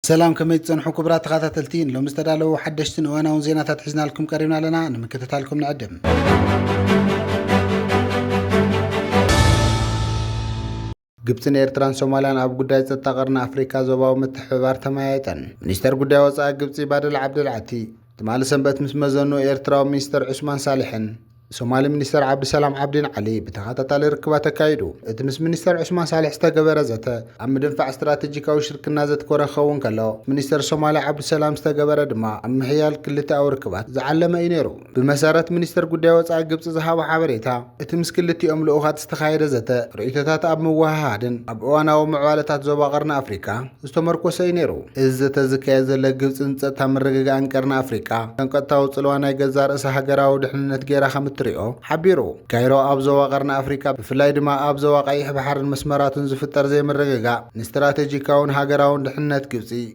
ሰላም ከመይ ትፀንሑ ክቡራት ተኸታተልቲ ንሎሚ ዝተዳለዉ ሓደሽትን እዋናውን ዜናታት ሒዝናልኩም ቀሪብና ኣለና ንምክትታልኩም ንዕድም ግብፅን ኤርትራን ሶማልያን ኣብ ጉዳይ ጸጥታ ቀርኒ ኣፍሪካ ዞባዊ ምትሕብባር ተመያየጠን። ሚኒስተር ጉዳይ ወፃኢ ግብፂ ባደል ዓብደል ዓቲ ትማሊ ሰንበት ምስ መዘኑ ኤርትራዊ ሚኒስተር ዑስማን ሳልሕን ሶማሊ ሚኒስተር ዓብዲሰላም ዓብዲን ዓሊ ብተኸታታሊ ርክባት ኣካይዱ። እቲ ምስ ሚኒስተር ዑስማን ሳልሕ ዝተገበረ ዘተ ኣብ ምድንፋዕ ስትራቴጂካዊ ሽርክና ዘትኮረ ክኸውን ከሎ፣ ምስ ሚኒስተር ሶማሊ ዓብዲሰላም ዝተገበረ ድማ ኣብ ምሕያል ክልተኣዊ ርክባት ዝዓለመ እዩ ነይሩ። ብመሰረት ሚኒስተር ጉዳይ ወጻኢ ግብጺ ዝሃቦ ሓበሬታ፣ እቲ ምስ ክልቲኦም ልኡኻት ዝተኻየደ ዘተ፣ ርእይቶታት ኣብ ምውህሃድን ኣብ እዋናዊ ምዕባለታት ዞባ ቀርኒ ኣፍሪቃ ዝተመርኮሰ'ዩ ነይሩ። እዚ ዘተ ዝካየድ ዘሎ፣ ግብጺ ንጸጥታ ምርግጋእን ቀርኒ ኣፍሪቃ ከም ቀጥታዊ ጽልዋ ናይ ገዛእ ርእሳ ሃገራዊ ድሕንነት ገይራ ከም እትሪኦ ሓቢሩ። ካይሮ ኣብ ዞባ ቀርኒ ኣፍሪቃ ብፍላይ ድማ ኣብ ዞባ ቀይሕ ባሕርን መስመራቱን ዝፍጠር ዘይምርግጋእ ንስትራተጂካውን ሃገራውን ድሕንነት ግብጺ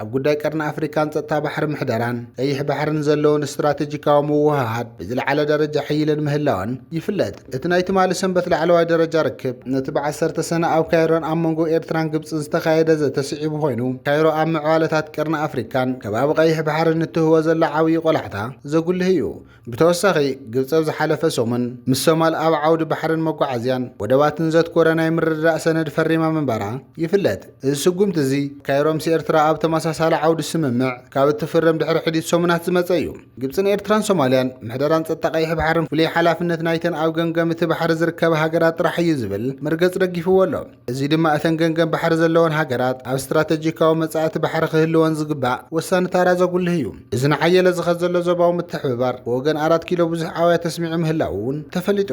ኣብ ጉዳይ ቀርኒ ኣፍሪካን ጸጥታ ባሕሪ ምሕደራን ቀይሕ ባሕርን ዘለወን ስትራቴጂካዊ ምውህሃድ ብዝለዓለ ደረጃ ሕይለን ምህላወን ይፍለጥ። እቲ ናይ ትማሊ ሰንበት ላዕለዋይ ደረጃ ርክብ፣ ነቲ ብ ዓሰርተ ሰነ ኣብ ካይሮን ኣብ መንጎ ኤርትራን ግብጽን ዝተኻየደ ዘተ ስዒቡ ኮይኑ፣ ካይሮ ኣብ ምዕባለታት ቀርኒ ኣፍሪካን ከባቢ ቀይሕ ባሕርን እትህቦ ዘላ ዓብዪ ቆላሕታ ዘጉልህ እዩ። ብተወሳኺ ግብፂ ኣብ ዝሓለፈ ሰሙን ምስ ሶማል ኣብ ዓውዲ ባሕርን መጓዓዝያን ወደባትን ዘትኮረ ናይ ምርድዳእ ሰነድ ፈሪማ ምንባራ ይፍለጥ። እዚ ስጉምቲ እዚ ካይሮ ምስ ኤርትራ ኣብ ተመሳሳሊ ዓውዲ ስምምዕ ካብ እትፍርም ድሕሪ ሕዲት ሰሙናት ዝመፀ እዩ። ግብፅን ኤርትራን ሶማልያን ምሕደራን ፀጥታ ቀይሕ ባሕርን ፍሉይ ሓላፍነት ናይተን ኣብ ገምገም እቲ ባሕሪ ዝርከባ ሃገራት ጥራሕ እዩ ዝብል መርገፂ ደጊፍዎ ኣሎ። እዚ ድማ እተን ገንገን ባሕሪ ዘለወን ሃገራት ኣብ ስትራተጂካዊ መጻእቲ ባሕሪ ክህልወን ዝግባእ ወሳኒ ታራ ዘጉልህ እዩ። እዚ ንሓየለ ዝኸድ ዘሎ ዞባዊ ምትሕብባር ብወገን ኣራት ኪሎ ብዙሕ ኣውያት ኣስሚዑ ምህላዉ እውን ተፈሊጡ።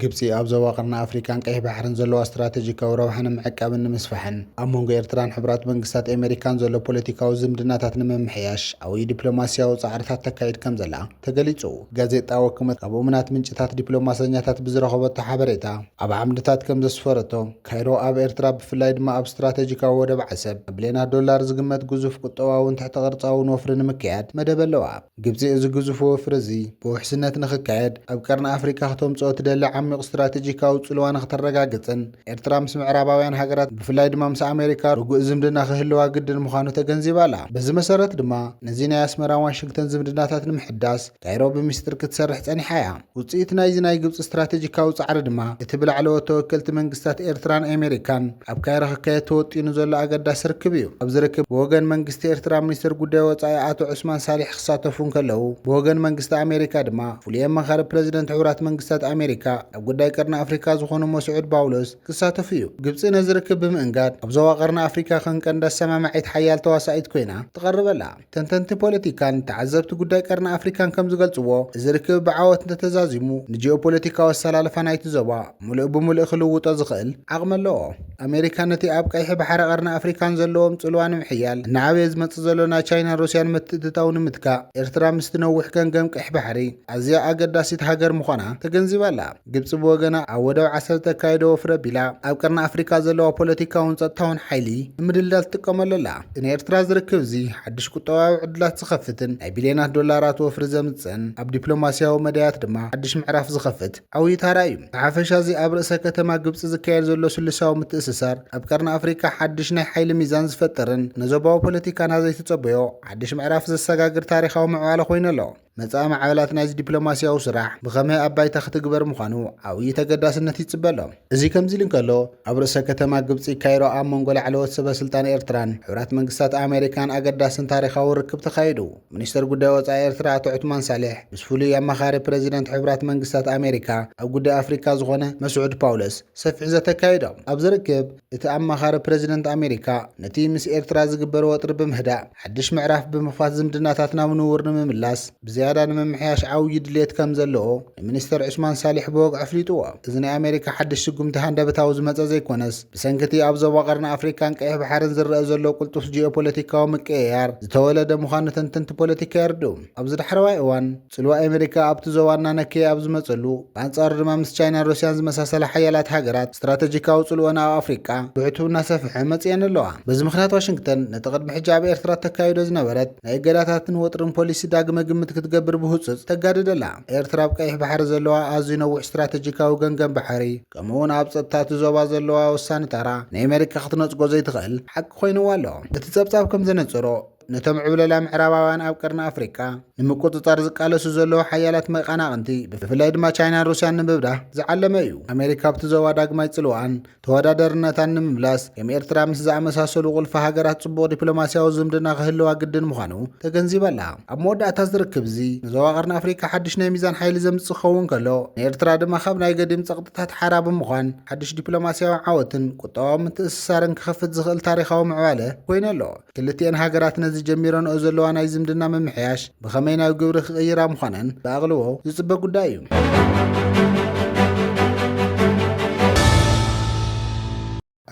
ግብፂ ኣብ ዞባ ቀርኒ ኣፍሪካን ቀይሕ ባሕርን ዘለዋ ስትራቴጂካዊ ረብሓ ንምዕቃብን ንምስፋሕን ኣብ መንጎ ኤርትራን ሕብራት መንግስታት ኣሜሪካን ዘሎ ፖለቲካዊ ዝምድናታት ንምምሕያሽ ዓብዪ ዲፕሎማሲያዊ ፃዕርታት ተካይድ ከምዘላ ተገሊጹ። ጋዜጣ ወክመት ካብ እሙናት ምንጭታት ዲፕሎማሰኛታት ብዝረኸበቶ ሓበሬታ ኣብ ዓምድታት ከም ዘስፈረቶ፣ ካይሮ ኣብ ኤርትራ ብፍላይ ድማ ኣብ ስትራተጂካዊ ወደብ ዓሰብ ብብልየናት ዶላር ዝግመት ግዙፍ ቁጠባውን ትሕተ ቅርጻውን ወፍሪ ንምክያድ መደብ ኣለዋ። ግብጺ እዚ ግዙፍ ወፍሪ እዚ ብውሕስነት ንኽካየድ ኣብ ቀርኒ ኣፍሪቃ ክተምጽኦ ትደሊ ዓሚቝ ስትራተጂካዊ ጽልዋ ንኽተረጋግጽን፣ ኤርትራ ምስ ምዕራባውያን ሃገራት ብፍላይ ድማ ምስ ኣሜሪካ ርጉእ ዝምድና ክህልዋ ግድን ምዃኑ ተገንዚባ ኣላ። በዚ መሰረት ድማ ነዚ ናይ ኣስመራን ዋሽንግተን ዝምድናታት ንምሕዳስ ካይሮ ብሚስጥር ክትሰርሕ ጸኒሓ እያ። ውጽኢት ናይዚ ናይ ግብጺ ስትራተጂካዊ ጻዕሪ ድማ እቲ ብላዕለዎት ተወከልቲ መንግስታት ኤርትራን ኣሜሪካን ኣብ ካይሮ ክካየድ ተወጢኑ ዘሎ ኣገዳሲ ርክብ እዩ። ኣብዚ ርክብ ብወገን መንግስቲ ኤርትራ ሚኒስተር ጉዳይ ወጻኢ ኣቶ ዑስማን ሳሊሕ ክሳተፉ እንከለዉ ብወገን መንግስቲ ኣሜሪካ ድማ ፍሉይ ኣማኻሪ ፕረዚደንት ሕቡራት መንግስታት ኣሜሪካ ኣብ ጉዳይ ቀርኒ ኣፍሪካ ዝኾኑ መስዑድ ባውሎስ ክሳተፉ እዩ። ግብፂ ነዚ ርክብ ብምእንጋድ ኣብ ዞባ ቀርኒ ኣፍሪካ ከም ቀንዲ ኣሰማማዒት ሓያል ተዋሳኢት ኮይና ትቐርብ ኣላ። ተንተንቲ ፖለቲካን ተዓዘብቲ ጉዳይ ቀርኒ ኣፍሪካን ከም ዝገልፅዎ እዚ ርክብ ብዓወት እንተተዛዚሙ ንጂኦፖለቲካዊ ኣሰላልፋ ናይቲ ዞባ ሙሉእ ብሙሉእ ክልውጦ ዝኽእል ዓቕሚ ኣለዎ። ኣሜሪካ ነቲ ኣብ ቀይሒ ባሕሪ ቀርኒ ኣፍሪካን ዘለዎም ፅልዋ ንምሕያል እናዓበየ ዝመፅእ ዘሎ ናይ ቻይናን ሩስያን ምትእትታው ንምትካእ ኤርትራ ምስቲ ነዊሕ ገምገም ቀይሕ ባሕሪ ኣዝያ ኣገዳሲት ሃገር ምዃና ተገንዚባ ኣላ። ግብጺ ብወገና ኣብ ወደብ ዓሰብ እተካይዶ ወፍሪ ኣቢላ ኣብ ቀርኒ ኣፍሪቃ ዘለዋ ፖለቲካውን ጸጥታውን ሓይሊ ንምድልዳል ትጥቀመሉ ኣላ። እቲ ንኤርትራ ዝርክብ እዚ ሓድሽ ቁጠባዊ ዕድላት ዝኸፍትን ናይ ቢልዮናት ዶላራት ወፍሪ ዘምጽእን ኣብ ዲፕሎማስያዊ መዳያት ድማ ሓድሽ ምዕራፍ ዝኸፍት ዓውዪ ታራ እዩ። ብሓፈሻ እዚ ኣብ ርእሰ ከተማ ግብጺ ዝካየድ ዘሎ ስሉሳዊ ምትእስሳር ኣብ ቀርኒ ኣፍሪቃ ሓድሽ ናይ ሓይሊ ሚዛን ዝፈጥርን ንዞባዊ ፖለቲካና ዘይትጸበዮ ሓድሽ ምዕራፍ ዘሰጋግር ታሪኻዊ ምዕባለ ኮይኑ ኣሎ። መጻኢ ማዕበላት ናይዚ ዲፕሎማስያዊ ስራሕ ብኸመይ ኣብ ባይታ ክትግበር ምዃኑ ዓብዪ ተገዳስነት ይጽበ ኣሎ። እዚ ከምዚ'ሉ እንከሎ፣ ኣብ ርእሰ ከተማ ግብጺ ካይሮ ኣብ መንጎ ላዕለዎት ሰበስልጣን ኤርትራን ሕቡራት መንግስታት ኣመሪካን ኣገዳስን ታሪኻውን ርክብ ተኻይዱ። ሚኒስተር ጉዳይ ወጻኢ ኤርትራ ኣቶ ዑትማን ሳልሕ ምስ ፍሉይ ኣማኻሪ ፕረዚደንት ሕቡራት መንግስታት ኣመሪካ ኣብ ጉዳይ ኣፍሪካ ዝኾነ መስዑድ ፓውለስ ሰፊሕ ዘተ ኣካይዶም። ኣብዚ ርክብ እቲ ኣማኻሪ ፕረዚደንት ኣመሪካ ነቲ ምስ ኤርትራ ዝግበር ወጥሪ ብምህዳእ፣ ሓድሽ ምዕራፍ ብምኽፋት ዝምድናታት ናብ ንቡር ንምምላስ ብዝያዳ ንምምሕያሽ ዓውዪ ድልየት ከምዘለዎ ንሚኒስተር ዑስማን ሳሊሕ ብወግዒ ኣፍሊጥዎ። እዚ ናይ ኣሜሪካ ሓድሽ ስጉምቲ ሃንደበታዊ ዝመጸ ዘይኮነስ፣ ብሰንኪ'ቲ ኣብ ዞባ ቀርኒ ኣፍሪቃን ቀይሕ ባሕርን ዝረኣ ዘሎ ቅልጡፍ ጂኦፖለቲካዊ ምቅይያር ዝተወለደ ምዃኑ ተንተንቲ ፖለቲካ የርድኡ። ኣብዚ ዳሕረዋይ እዋን፣ ጽልዋ ኣመሪካ ኣብቲ ዞባ እናነከየ ኣብ ዝመጸሉ፣ ብኣንጻሩ ድማ ምስ ቻይናን ሩስያን ዝመሳሰላ ሓያላት ሃገራት ስትራተጂካዊ ጽልወን ኣብ ኣፍሪቃ ብዕቱብ እናሰፍሐ መጺኤን ኣለዋ። በዚ ምኽንያት ዋሽንግተን ነቲ ቅድሚ ሕጂ ኣብ ኤርትራ እተካይዶ ዝነበረት ናይ እገዳታትን ወጥርን ፖሊሲ ዳግመ ግምት ክትገብር ብህጹጽ ተጋድድ ኣላ። ኤርትራ ኣብ ቀይሕ ባሕሪ ዘለዋ ኣዝዩ ነዊሕ ስትራተጂካዊ ገምገም ባሕሪ ከምኡ'ውን ኣብ ጸጥታ እቲ ዞባ ዘለዋ ወሳኒ ታራ ንኤመሪካ ክትነጽጎ ዘይትኽእል ሓቂ ኮይንዋ ኣሎ። እቲ ጸብጻብ ከም ዘነጸሮ፣ ነቶም ዕብለላ ምዕራባውያን ኣብ ቀርኒ ኣፍሪቃ ንምቁጽጻር ዝቃለሱ ዘለዉ ሓያላት መቃናቕንቲ ብፍላይ ድማ ቻይናን ሩስያን ንምብዳህ ዝዓለመ እዩ። ኣሜሪካ ኣብቲ ዞባ ዳግማይ ጽልዋኣን ተወዳደርነታን ንምምላስ ከም ኤርትራ ምስ ዝኣመሳሰሉ ቁልፊ ሃገራት ጽቡቕ ዲፕሎማስያዊ ዝምድና ክህልዋ ግድን ምዃኑ ተገንዚባ ኣላ። ኣብ መወዳእታ እዚ ርክብ እዚ ንዞባ ቀርኒ ኣፍሪቃ ሓድሽ ናይ ሚዛን ሓይሊ ዘምጽእ ክኸውን ከሎ ንኤርትራ ድማ ካብ ናይ ገዲም ጸቕጥታት ሓራ ብምዃን ሓድሽ ዲፕሎማስያዊ ዓወትን ቁጠባዊ ምትእስሳርን ክኸፍት ዝኽእል ታሪኻዊ ምዕባለ ኮይኑ ኣሎ። ክልቲኤን ሃገራት ነዚ ጀሚረንኦ ዘለዋ ናይ ዝምድና ምምሕያሽ ብኸመይ ናብ ግብሪ ክቕይራ ምዃነን ብኣቕልቦ ዝጽበ ጉዳይ እዩ።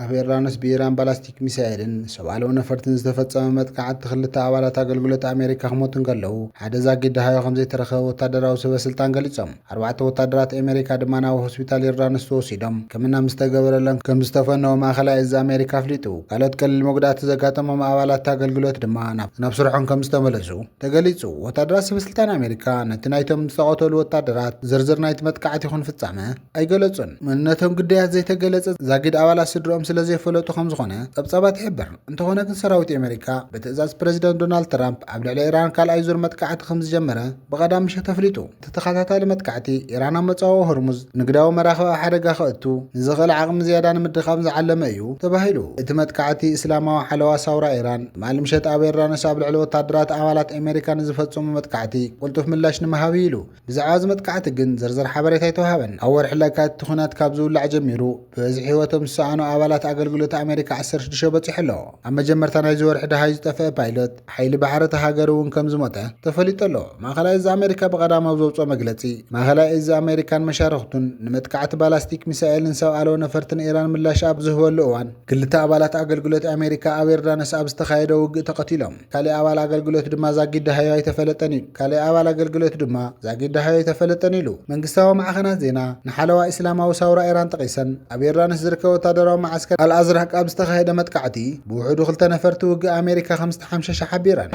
ኣብ ዮርዳኖስ ብኢራን ባላስቲክ ሚሳኤልን ሰብ ኣልቦ ነፈርትን ዝተፈጸመ መጥቃዕቲ ክልተ ኣባላት ኣገልግሎት ኣሜሪካ ክሞቱ እንከለዉ ሓደ ዛጊት ደሃዮ ከም ዘይተረኸበ ወታደራዊ ሰበስልጣን ገሊጾም። ኣርባዕተ ወታደራት ኣሜሪካ ድማ ናብ ሆስፒታል ዮርዳኖስ ተወሲዶም ሕክምና ምስ ተገበረሎም ከም ዝተፈነዉ ማእኸላይ እዝ ኣሜሪካ ኣፍሊጡ። ካልኦት ቀሊል መጉዳእቲ ዘጋጠሞም ኣባላት እቲ ኣገልግሎት ድማ ናብ ስርሖም ከም ዝተመለሱ ተገሊፁ። ወታደራት ሰበስልጣን ኣሜሪካ ነቲ ናይቶም ዝተቐተሉ ወታደራት ዝርዝር ናይቲ መጥቃዕቲ ይኹን ፍፃመ ኣይገለፁን። መንነቶም ግዳያት ዘይተገለፀ ዛጊድ ኣባላት ስድርኦም ስለ ዘይፈለጡ ከም ዝኾነ ፀብፃባት ይሕብር። እንተኾነ ግን ሰራዊት ኣሜሪካ ብትእዛዝ ፕረዚደንት ዶናልድ ትራምፕ ኣብ ልዕሊ ኢራን ካልኣይ ዙር መጥቃዕቲ ከም ዝጀመረ ብቀዳም ምሸት ኣፍሊጡ። እቲ ተኸታታሊ መጥቃዕቲ፣ ኢራን ኣብ መጻወ ሆርሙዝ ንግዳዊ መራኽብ ኣብ ሓደጋ ከእቱ ንዝኽእል ዓቕሚ ዝያዳ ንምድኻም ዝዓለመ እዩ ተባሂሉ። እቲ መጥቃዕቲ፣ እስላማዊ ሓለዋ ሳውራ ኢራን ትማሊ ምሸት ኣብ ዮርዳኖስ ኣብ ልዕሊ ወተሃደራት ኣባላት ኣሜሪካ ንዝፈጸሞ መጥቃዕቲ ቅልጡፍ ምላሽ ንምሃብ እዩ ኢሉ። ብዛዕባ እዚ መጥቃዕቲ ግን ዝርዝር ሓበሬታ ኣይተውሃበን። ኣብ ወርሒ ለካቲት እቲ ኲናት ካብ ዝውላዕ ጀሚሩ፣ ብዝሒ ህይወቶም ዝሰኣኑ ኣባላት ኣገልግሎት ኣመሪካ ዓሰርተ ሽዱሽተ በጺሑ ኣሎ። ኣብ መጀመርታ ናይዚ ወርሒ ደሃይ ዝጠፍአ ፓይሎት ሓይሊ ባሕሪ እታ ሃገር እውን ከም ዝሞተ ተፈሊጡ ኣሎ። ማእከላይ እዝ ኣመሪካ ብቐዳም ኣብ ዘውጽኦ መግለጺ፣ ማእከላይ እዝ ኣመሪካን መሻርኽቱን ንመጥቃዕቲ ባላስቲክ ሚሳኤልን ሰብ ኣልቦ ነፈርትን ኢራን ምላሽ ኣብ ዝህበሉ እዋን፣ ክልተ ኣባላት ኣገልግሎት ኣመሪካ ኣብ ዮርዳኖስ ኣብ ዝተኻየደ ውግእ ተቐቲሎም። ካሊእ ኣባል ኣገልግሎት ድማ ዛጊድሃዮ ኣይተፈለጠን ኢሉ። ካሊእ ኣባል ኣገልግሎት ድማ ዛጊድሃዮ ኣይተፈለጠን ኢሉ። መንግስታዊ ማዕኸናት ዜና ንሓለዋ ኢስላማዊ ሳውራ ኢራን ጠቒሰን ኣብ ዮርዳኖስ ዝርከብ ወታደራዊ መዓስከር ኣልኣዝራቅ ኣብ ዝተኻየደ መጥቃዕቲ ብውሕዱ ክልተ ነፈርቲ ውግእ ኣሜሪካ ከምዝተሓምሸሸ ሓቢረን።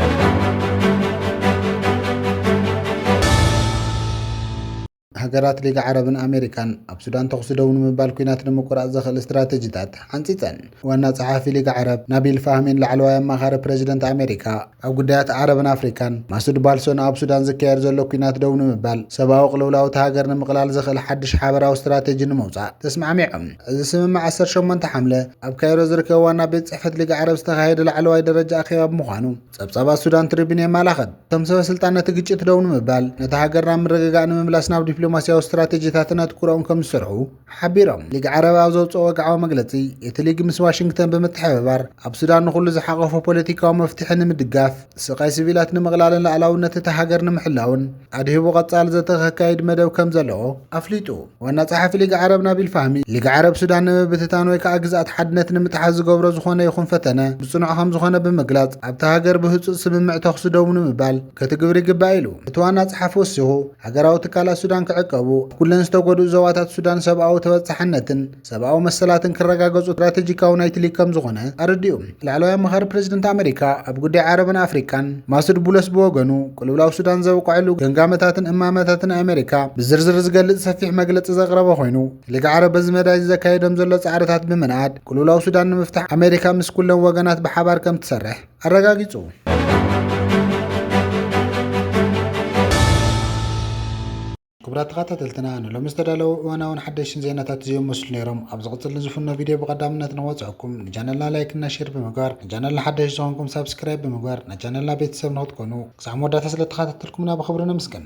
ሃገራት ሊግ ዓረብን ኣሜሪካን ኣብ ሱዳን ተኹሲ ደው ንምባል ኲናት ንምቁራጽ ዘኽእል ስትራተጂታት ሓንጺጸን። ዋና ጸሓፊ ሊግ ዓረብ ናቢል ፋህሚን ላዕለዋይ ኣማኻሪ ፕረዚደንት ኣሜሪካ ኣብ ጉዳያት ዓረብን ኣፍሪካን ማሱድ ባልሶ ንኣብ ሱዳን ዝካየድ ዘሎ ኲናት ደው ንምባል ሰብኣዊ ቅልውላው እታ ሃገር ንምቕላል ዘኽእል ሓድሽ ሓበራዊ ስትራተጂ ንምውጻእ ተስማዕሚዖም። እዚ ስምምዕ ዓሰርተ ሸሞንተ ሓምለ ኣብ ካይሮ ዝርከብ ዋና ቤት ጽሕፈት ሊግ ዓረብ ዝተኻየደ ላዕለዋይ ደረጃ ኣኼባ ብምዃኑ፣ ጸብጻባት ሱዳን ትሪቢን የመላኽት። እቶም ሰበ ስልጣን ነቲ ግጭት ደው ንምባል ነታ ሃገር ናብ ምርግጋእ ንምምላስ ናብ ዲፕሎማስያዊ ስትራቴጂታትን ኣትኩሮኦም ከም ዝሰርዑ ሓቢሮም። ሊግ ዓረብ ኣብ ዘውጽኦ ወግዓዊ መግለጺ፣ እቲ ሊግ ምስ ዋሽንግተን ብምትሕብባር ኣብ ሱዳን ንኹሉ ዝሓቖፈ ፖለቲካዊ መፍትሒ ንምድጋፍ፣ ስቓይ ሲቪላት ንምቕላልን ልኣላውነት እታ ሃገር ንምሕላውን ኣድሂቡ ቀጻሊ ዘተ ከካይድ መደብ ከም ዘለዎ ኣፍሊጡ። ዋና ጸሓፊ ሊግ ዓረብ ናቢል ፋህሚ ሊግ ዓረብ ሱዳን ንምብትታን ወይ ከዓ ግዝኣት ሓድነት ንምጥሓስ ዝገብሮ ዝኾነ ይኹን ፈተነ ብጽኑዕ ከም ዝኾነ ብምግላጽ ኣብታ ሃገር ብህፁፅ ስምምዕ ተኹሲ ደው ንምባል ከትግብር ይግባእ ኢሉ። እቲ ዋና ጸሓፊ ወሲኹ ሃገራዊ ትካላት ሱዳን ክዕቀቡ፣ ኣብ ኩለን ዝተጎድኡ ዞባታት ሱዳን ሰብኣዊ ተበጻሕነትን ሰብኣዊ መሰላትን ክረጋገጹ ስትራቴጂካዊ ናይ ትሊ ከም ዝኾነ ኣረዲኡ። ላዕለዋይ ኣማኻሪ ፕረዚደንት ኣመሪካ ኣብ ጉዳይ ዓረብን ኣፍሪቃን ማሱድ ቡለስ ብወገኑ፣ ቅልውላው ሱዳን ዘብቀዐሉ ገምጋመታትን እማመታትን ኣመሪካ ብዝርዝር ዝገልጽ ሰፊሕ መግለጺ ዘቕረበ ኮይኑ፣ ሊግ ዓረብ በዚ መዳይ ዘካይዶም ዘሎ ጻዕርታት ብምንኣድ፣ ቅልውላው ሱዳን ንምፍታሕ ኣመሪካ ምስ ኩለን ወገናት ብሓባር ከም ትሰርሕ ኣረጋጊጹ። ክቡራት ተኻታተልትና ንሎሚ ዝተዳለዉ እዋናውን ሓደሽትን ዜናታት እዚኦም መስሉ ነይሮም። ኣብ ዝቕፅል ንዝፍኖ ቪድዮ ብቐዳምነት ነወፅዐኩም። ንቻነልና ላይክ እና ሼር ብምግባር ንቻነልና ሓደሽ ዝኾንኩም ሳብስክራይብ ብምግባር ናይ ቻነልና ቤተሰብ ንክትኮኑ ክሳዕ መወዳእታ ስለተኻታተልኩምና ብኽብሪ ነምስግን።